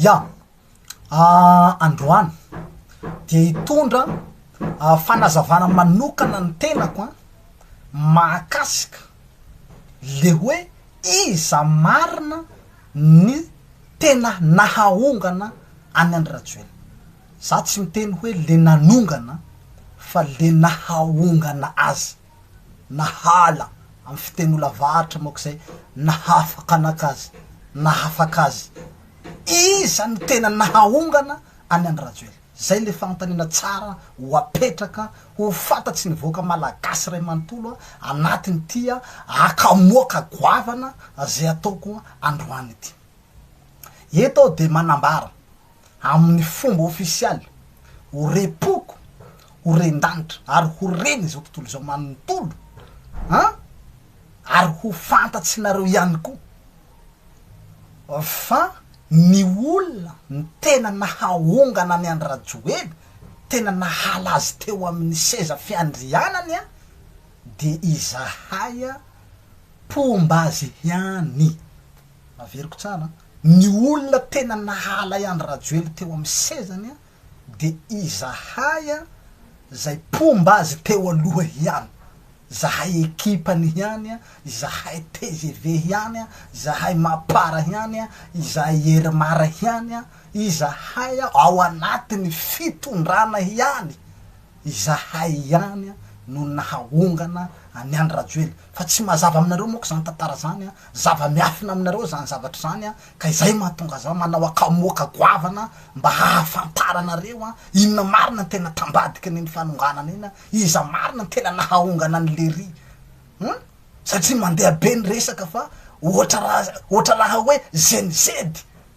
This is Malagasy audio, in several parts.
Ia. Androany dia hitondra fanazavana manokana ny tenako an, mahakasika le hoe iza marina ny tena nahaongana an'i Andry Rajoelina. Za tsy miteny hoe le nanongana fa le nahaongana azy. na hala amin'ny fiteny olavaratra moa izay nahafakanaka azy, nahafaka azy. Iza no tena nahaongana an'i Andry Rajoelina? Izay ilay fanontaniana tsara ho apetraka ho fantatry ny vahoaka malagasy iray manontolo anatin'ity hakamoaka goavana izay ataoko androany ity. Eto aho dia manambara amin'ny fomba ofisialy, ho repoako, ho ren-danitra, ary ho ren'izao tontolo izao manontolo an! Ary ho fantatsinareo ihany koa fa ny olona ny tena nahaongana an'i Andry Rajoely, tena nahala azy teo amin'ny seza fiandrianany an! dia izahay an! mpomba azy ihany! Averiko tsara an! Ny olona tena nahalay Andry Rajoelina teo amin'ny sezany dia izahay izay mpomba azy teo aloha ihany, izahay ekipany ihany, izahay tgv ihany, izahay mapar ihany, izahay ermar ihany, izahay ao anatin'ny fitondrana ihany Izahay ihany no nahaongana an'i Andry Rajoely fa tsy mazava aminareo moa ka izany tantara izany an! Zava-miafina aminareo izany zavatra izany an! Ka izay no mahatonga zao manao akamoaka goavana mba hahafantaranareo an! Inona marina no tena tambadiky an'iny fanonganana iny an! Iza marina no tena nahaongana an'i Lery an! Satria mandeha be ny resaka fa ohatra raha ohatra raha hoe zenizedy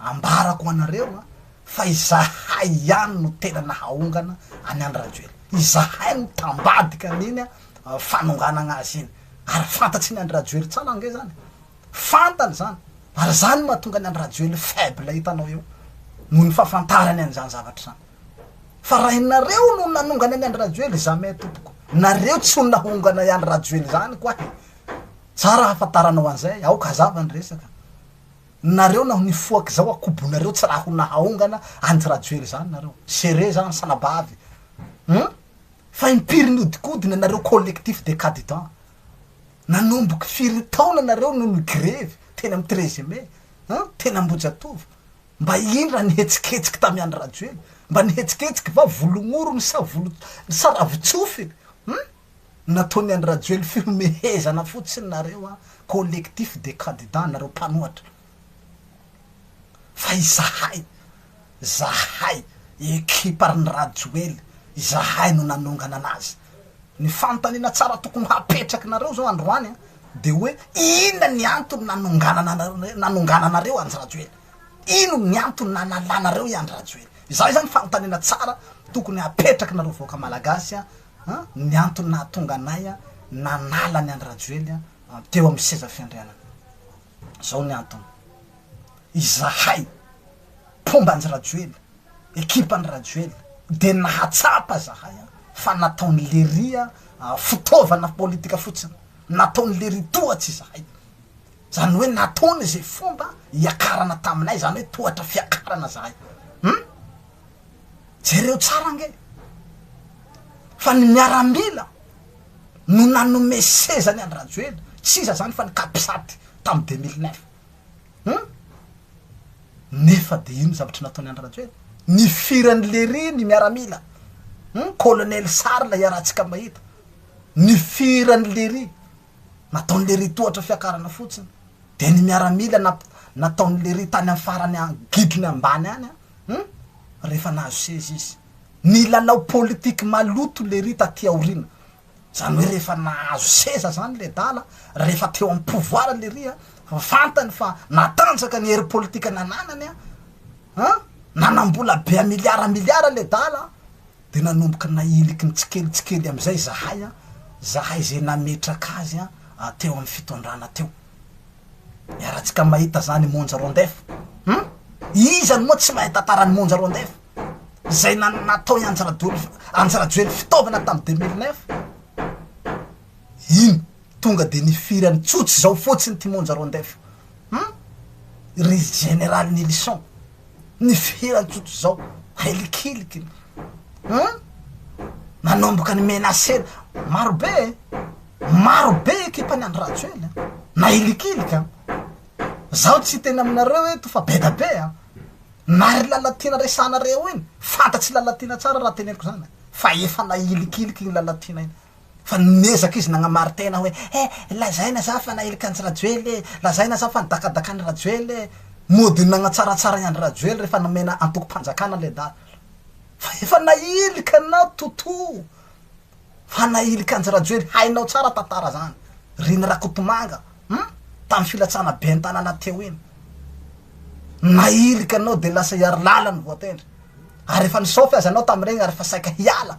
Ambarako ho anareo fa izahay ihany no tena nahaongana an'i Andry Rajoelina. Izahay no tambadika an'iny fanonganagna azy iny. Ary fantatry ny Andry Rajoely tsara ange zany. Fantany zany. Ary zany mahatonga ny Andry Rajoely faible hitanao eo. Noho ny fahafantarany an'izany zavatra izany. Fa raha ianareo no nanongana an'i Andry Rajoely, jamais tompoko. Nareo tsy ho nahongana i Andry Rajoely zany koahy. Tsara hahafataranao an'izay. Aoka hazava ny resaka. Nareo naho nifoaka izao akobonareo tsy raha ho nahaongana Andry Rajoely izany nareo. Géré izany salabavy hum. Fa impiry niodikodina nareo collectif des cadidans. Nanomboky firy taona nareo no nigrevy teny am treize mai hum teny Ambohijatovo. Mba ino raha nihetsiketsika tamy Andry Rajoely. Mba nihetsiketsika va volon'orony sa volo sa ravin-tsofiny hum. Nataon'i Andry Rajoelina fihomehezana fotsiny nareo an, collectif des candidats nareo mpanohatra. Fa izahay, zahay ekipa ry Rajoely, izahay no nanongana anazy. Ny fanontaniana tsara tokony hapetraky nareo zao androany an, de oe inona ny antony nanonganana nanongananareo Andry Rajoely? Inona ny antony nanalanareo i Andry Rajoely? Izay zany fanontaniana tsara tokony hapetraky nareo vahoaka Malagasy an, an, ny antony nahatonga anay an, nanala an'i Andry Rajoely an, teo amin'ny seza fiandrianana. Izao ny antony, izahay, mpomba Andry Rajoely, ekipan'i Rajoely, dia nahatsapa izahay an, fa nataon'i Lery an, fitaovana politika fotsiny, nataon'i Lery tohatra izahay. Izany hoe nataony izay fomba hiakarana taminay, izany hoe tohatra fiakarana izahay. Hum! Jereo tsara ange fa ny miaramila no nanome seza ny an-dRajoelina, tsy iza zany fa ny Capsat tam deux mille neuf hum nefa de ino zavatra nataony an-dRajoelina? Nifirany lery ny miaramila hum colonel Sary lay iarahantsika mahita, nifirany lery, nataony lery tohatra fiakarana fotsiny, de ny miaramila nataony lery tany am farany an gidrony ambany any an, Hum rehefa nahazo seza izy. Nilalao politique maloto lery taty aoriana. Zany hoe rehefa nahazo seza zany ledala, rehefa teo am pouvoir lery a, fantany fa natanjaka ny hery politique nananany a, an, nanambola be a milliards milliards ledala, Dia nanomboka nahiliky ny tsikelintsikelin'ny amin'izay izahay, izahay izay nametraka azy teo amin'ny fitondrana teo. Iarahantsika mahita izany i Monja Rondef. Hum! Iza no moa tsy mahay tantara an'i Monja Rondef? Izay nan- natao i Andry Rajoel- Andry Rajoely fitaovana tamin'ny deux mille neuf? Iny, tonga dia nifirany tsotra izao fotsiny ity Monja Rondef io. Hum! Ry Général Nilison. ny fiheran-tsotra izao ahilikiliky an! nanomboka ny menacena maro be e! maro be ekipan'i Andry Rajoelina nahilikiliky an! zaho tsy hiteny aminareo eto fa be da be an! na ry Lalatiana resahanareo iny fantatry Lalatiana tsara raha teneniko izany fa efa nahilikiliky iny Lalatiana iny Fa niezaka izy nagnamarin-tena hoe he, lazaina za fa nahilika an'i Rajoely e, lazaina za fa nidakadaka an'i Rajoely e. Mody nagnatsaratsara i Andry Rajoely rehefa nomena antokom-panjakana le dala. Fa efa nahilika anao Toto fa nahilika anjy Rajoely, hainao tsara tantara zany. Reny Rakotomanga hum tamin'ny filatsana ben'ny tanàna teo iny. Nahilika anao de lasa i Harilala no voatendry. Ary efa nisaofy aza anao tamin'ireny ary efa saika hiala.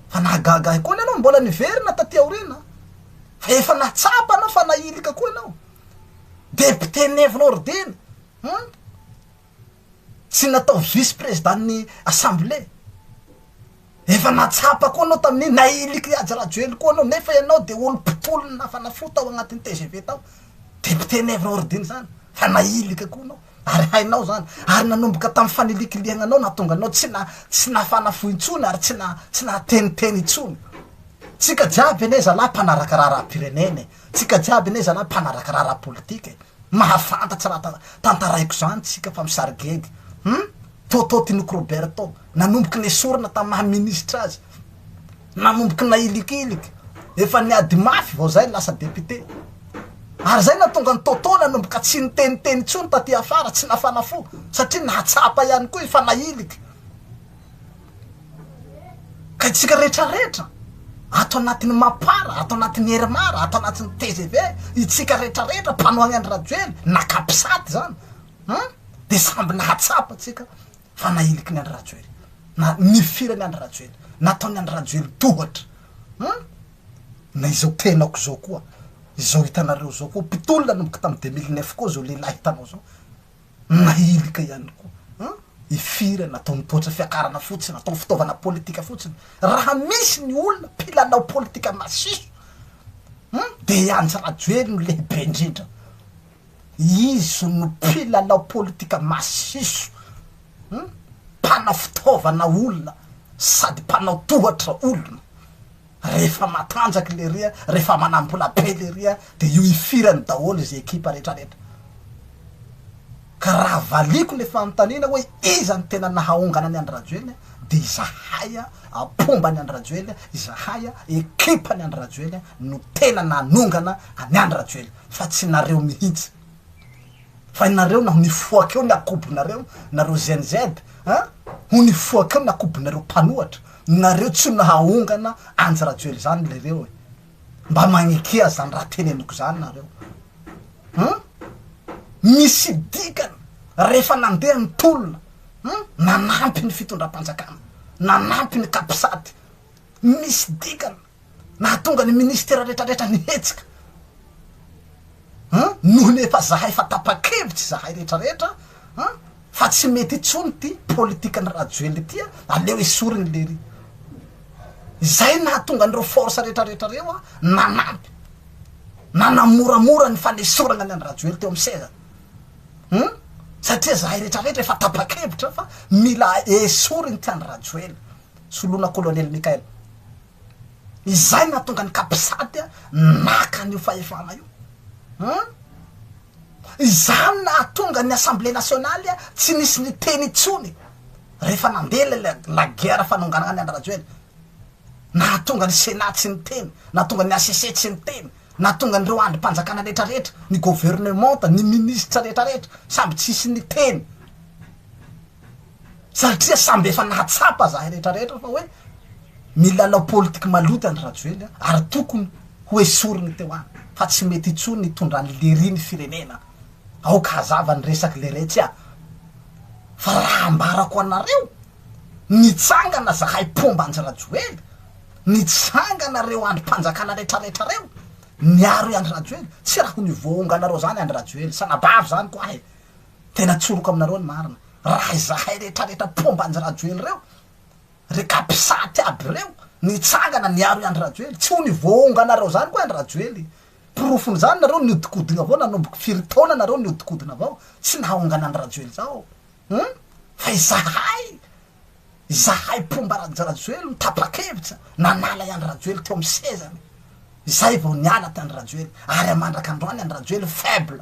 Fa nahagaga ahy koa ny anao mbola niverina taty aoriana fa efa natsapa anao fa nahilika koa ianao. Député Nivonao Rideny hum tsy natao vice président ny assemblée. Efa natsapa koa anao tamin'iny nahiliky Haja Rajoely koa anao nefa ianao dia olo mpitolona fanafody tao agnatin'ny tgv tao. Député Nivonao Rideny zany fa nahilika koa anao. Ary hainao izany. Ary nanomboka tamin'ny fanilikilihana anao nahatonga anao tsy na, tsy nafana fo intsony ary tsy na, tsy nahateniteny intsony. Tsika jiaby anie zalahy mpanaraka raharaham-pirenena e! Tsika jiaby anie zalahy mpanaraka raharaham-politika e! Mahafantatsa raha tantaraiko izany tsika fa misarigegy. Hum? Toto Tinoko Roberto. nanomboky nesorina tam maha ministra azy, nanomboky nailikiliky, efa niady mafy vao zay lasa député, ary zay natonga an'i Toto nanomboka tsy niteniteny intsony taty afara, tsy nafana fo, satria nahatsapa ihany koa i fa nailiky, ka itsika rehetra rehetra ato anatin'ny mapar, ato anatin'ny hery mar, ato anatin'ny tgv, itsika rehetra rehetra mpanohagna an'i Rajoely, na capsat zany, an, dia samby nahatsapa tsika. fa nahiliky ny Andry Rajoely, na nifirany Andry Rajoely, nataony Andry Rajoely tohatra hum! na izao tenako izao koa, izao hitanareo izao koa, mpitolona nanomboka tamin'ny deux mille neuf koa izao lehilahy hitanao izao, nahilika ihany koa hum! ifirany, nataony tohatra fiakarana fotsiny, nataony fitaovana politika fotsiny, raha misy ny olona mpilalao politika masiso hum! dia i Andry Rajoely no lehibe indrindra. Izy no mpilalao politika masiso, mpanao fitaovana olona sady mpanao tohatra olona. Rehefa matanjaka lery a, rehefa manambola be lery a, dia io ifirany daholo izy ekipa rehetrarehetra. Ka raha valiako ilay fanontaniana hoe iza no tena nahaongana an'i Andry Rajoelina dia izahay a, mpomba an'i Andry Rajoelina, izahay a, ekipany Andry Rajoelina no tena nanongana an'i Andry Rajoelina. fa tsy nareo mihitsy fa nareo naho nifoaka eo ny akobonareo nareo Gen Z a ho nifoaka eo ny akobonareo mpanohatra nareo tsy nahahongana anjy rajoely zany lereo e mba magnekia zany raha teneniko zany nareo hum misy dikany rehefa nandeha ny tolona hum nanampy ny fitondram-panjakana nanampy ny capsat misy dikany Nahatonga ny ministera retraretra nihetsika an! noho ny efa zahay fa tapa-kevitra izahay retraretra an! fa tsy mety intsony ity politikan'i Rajoelina ity an! aleo esoriny lery! izay nahatonga an'ireo force retraretra ireo an! nanampy nanamoramora ny fanesorana ny an'i Rajoelina teo amin'ny seza an! satria zahay retraretra efa tapa-kevitra fa mila esoriny ity an'i Rajoelina Soloana Kolonely Mickael. Izay no nahatonga ny Capsat naka an'io fahefana io. Hum! Izany no nahatonga ny Assemblée Nationale tsy nisy niteny intsony rehefa nandeha ilay la guerre fanonganana an'i Andry Rajoelina. Nahatonga ny Sénat tsy niteny, nahatonga ny HCC tsy niteny, nahatonga an'ireo andrim-panjakana rehetra rehetra, ny governemanta, ny ministra rehetra rehetra, samy tsisy niteny. satria samby efa nahatsapa zahay rehetra rehetra fa hoe milalao politique maloto andry rajoely ary tokony ho esoriny teo any fa tsy mety intsony ny itondrany lery ny firenena aoka hazava ny resaky leretsy a fa raha ambarako anareo nitsangana zahay mpomba andry rajoely nitsangana reo andry mpanjakana rehetra rehetra reo niaro i andry rajoely tsy raha ho ny voahonganareo zany andry rajoely sanabavy zany ko ahy Tena atsoroko aminareo ny marina. Raha izahay retraretra mpomba anjy Rajoely reo, re capsat aby reo, nitsangana niaro i Andry Rajoely, tsy ho ny voaonganareo zany koa Andry Rajoely. Porofony zany nareo niodikodigna avao nanomboka firy taona nareo niodikodigna avao tsy nahaongana Andry Rajoely zao hum fa izahay izahay mpomba Raj Rajoely no tapakevitra nanala i Andry Rajoely teo amin'ny sezany izay vao niala t'i Andry Rajoely ary amandraka androany Andry Rajoely faible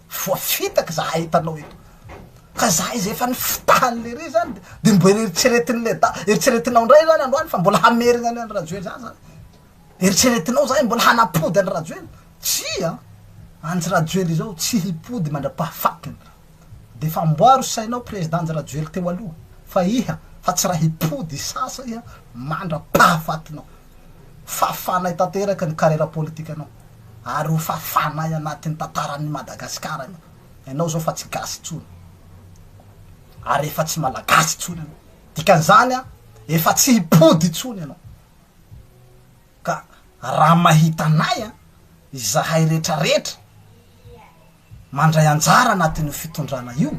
Voafitaka za hitanao eto ka za izay efa nifitahan'ny lery zany de mbola eritreretin'ny le da eritreretinao ndray zany androany fa mbola hamerigna any an'i rajoely zany zany eritreretinao zany mbola hanapody an'i rajoely tsia antsy rajoely izao tsy hipody mandrapahafatiny de fa amboaro sainao président nji rajoely teo aloha fa iha fa tsy raha hipody sasa iha mandrapahafatinao Fafanay tanteraka ny carrière politikanao ary ho fafanay anatin'ny tantaran'ny Madagascar ianao. Ianao izao fa tsy gasy intsony ary efa tsy malagasy intsony ianao. Dikan'izany efa tsy hipody intsony ianao. Ka raha mahita anay izahay retraretra mandray anjara anatin'io fitondrana io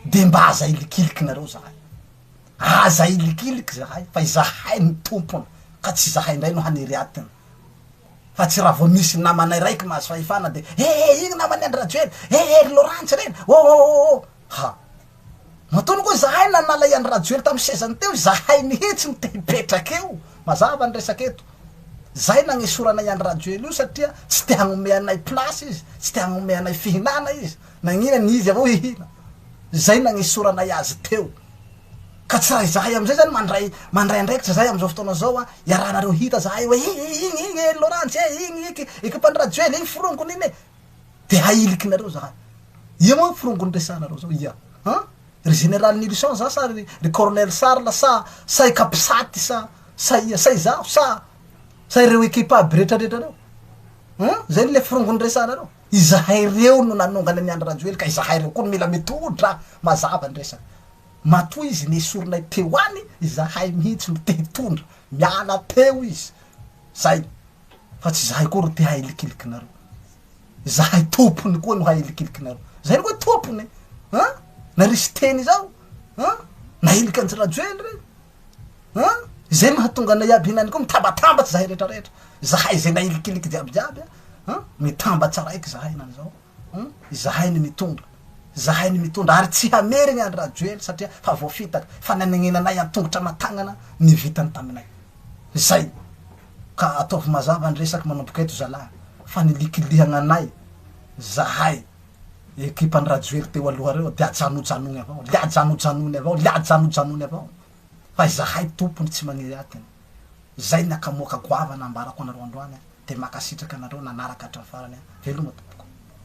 dia mba aza ilikilikinareo izahay. Aza ilikiliky zahay fa izahay no tompony ka tsy izahay indray no haniry atiny fa tsy raha vao misy namana iray ko mahazo fahefana de he he iny naman'i Andry Rajoely he he ry Laurence ireny oh oh oh oh ha matoa ko izahay nanala i Andry Rajoely tamin'ny sezany teo izahay mihitsy no te hipetraka eo mazava ny resaka eto zay nagnesorana i Andry Rajoely io satria tsy te hagnomey anay place izy tsy te hagnomey anay fihinana izy Nagnina ny izy avy eo hihina. Izay nagnesoranay azy teo. Ka tsy raha izahay amin'izay izany mandray mandray andraikitra izahay amin'izao fotoana izao an, iarahanareo hita izahay hoe iny iny iny iny e, Laurence e, iny iny ekipan'i Rajoel iny forongony iny e. Dia ahilikinareo izahay. Ia moa forongony resahanareo izao? Ia an! Ry Général Nilson za sa ry ry Colonel Charles sa sa i Capsat sa sa ia sa izaho sa sa ireo ekipa aby rehetrarehetra ireo? An! Izay ilay forongony resahanareo. Izahay ireo no nanongana an'i Andry Rajoely ka izahay ireo koa no mila mitodra mazava ny resaka. Matoa izy nesorinay teo any, izahay mihitsy no te hitondra. Miala teo izy. Izay. Fa tsy izahay koa ro te hahilikilikinareo. Izahay tompony koa no hahilikilikinareo. Izay no hoe tompony e! An? Na Risteny izao? An? Na Helik'Andry Rajoely re? An! Izay mahatonga anay iaby ihany koa mitabatambatra izahay rehetrarehetra. Izahay izay nahilikiliky jiabijiaby an! An! Mitamba tsaraiky izahay na izao. An! Izahay ny mitondra. Izahay ny mitondra ary tsy hamerigna an-dry Rajoely satria fa voafitaka, fa nanegnenanay an-tongotra aman-tagnana ny vitany taminay. Izay. Ka ataovy mazava ny resaka manomboka eto zalahy fa nilikilihagna anay izahay. Ekipan'i Rajoely teo aloha reo dia ajanojanony avao, le ajanojanony avao, le ajanojanony avao fa izahay tompony tsy magniry atiny. Zay ny akamoaka goavana ambarako anareo androany a, de makasitraka anareo nanaraka hatramin'ny farany a, veloma tompoko.